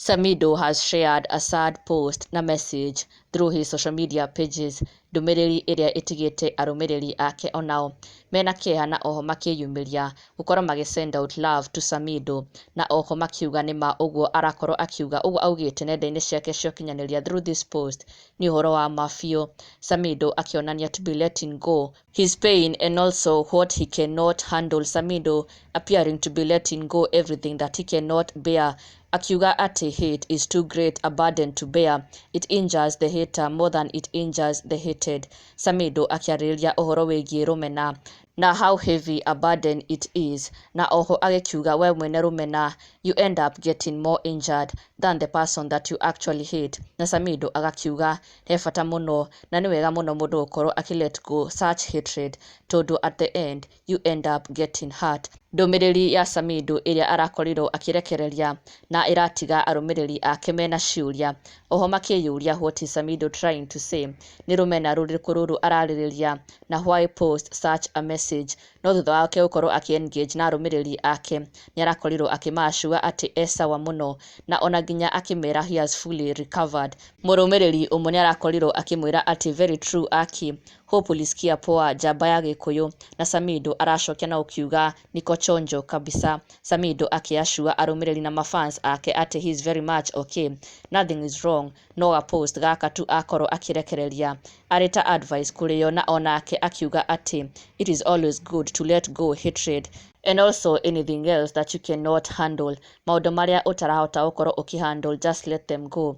Samido has shared a sad post na message through his social media pages ndũmĩrĩri ĩrĩa ĩtigĩte arũmĩrĩri ake onao mena kĩeha na oho makĩyumĩria gũkorwo magĩ send out love to Samido, na oho makiuga nĩ ma ũguo arakorwo akiuga ũguo augĩte nenda-inĩ ciake cia ũkinyanĩria through this post nĩ ũhoro wa ma biũ, Samido akĩonania to be letting go his pain and also what he can not handle, Samido appearing to be letting go everything that he can not bear, akiuga atĩ hate is too great a burden to bear, it injures the hater more than it injures the hated, Samido akĩarĩrĩria ũhoro wĩgiĩ rũmena Na how heavy a burden it is, na oho agĩkiuga we mwene rũmena you end up getting more injured than the person that you actually hit na Samido agakiuga he bata mũno na nĩ wega mũno mũndũ gũkorwo akĩ let go such hatred tondũ at the end you end up getting hurt. Ndũmĩrĩri ya Samido ĩrĩa arakorirwo akĩrekereria na ĩratiga arũmĩrĩri ake mena ciũria oho makĩyũria what is Samido trying to say, nĩ rũmena rũrĩkũ rũrũ ararĩrĩria na why post such a message no thutha wake gũkorwo akĩ engage na arũmĩrĩri ake nĩarakorirwo akĩma assure atĩ e sawa mũno na ona nginya akĩmera he has fully recovered. Mũrũmĩrĩri ũmwe nĩarakorirwo akĩmwĩra atĩ very true Aki, hope ulisikia poa, njamba ya gĩkũyũ, na Samido aracokia na ũkiuga Niko chonjo kabisa. Samido aki assure arũmĩrĩri na ma fans ake atĩ he is very much ok. Nothing is wrong. No ga post gaka tu akorwo akĩrekereria. Arĩ ta advice kũrĩ o na onake akiuga atĩ it is always good to let go hatred and also anything else that you cannot handle. Maũndũ marĩa ũtarahota gũkorwo ũkĩ handle just let them go.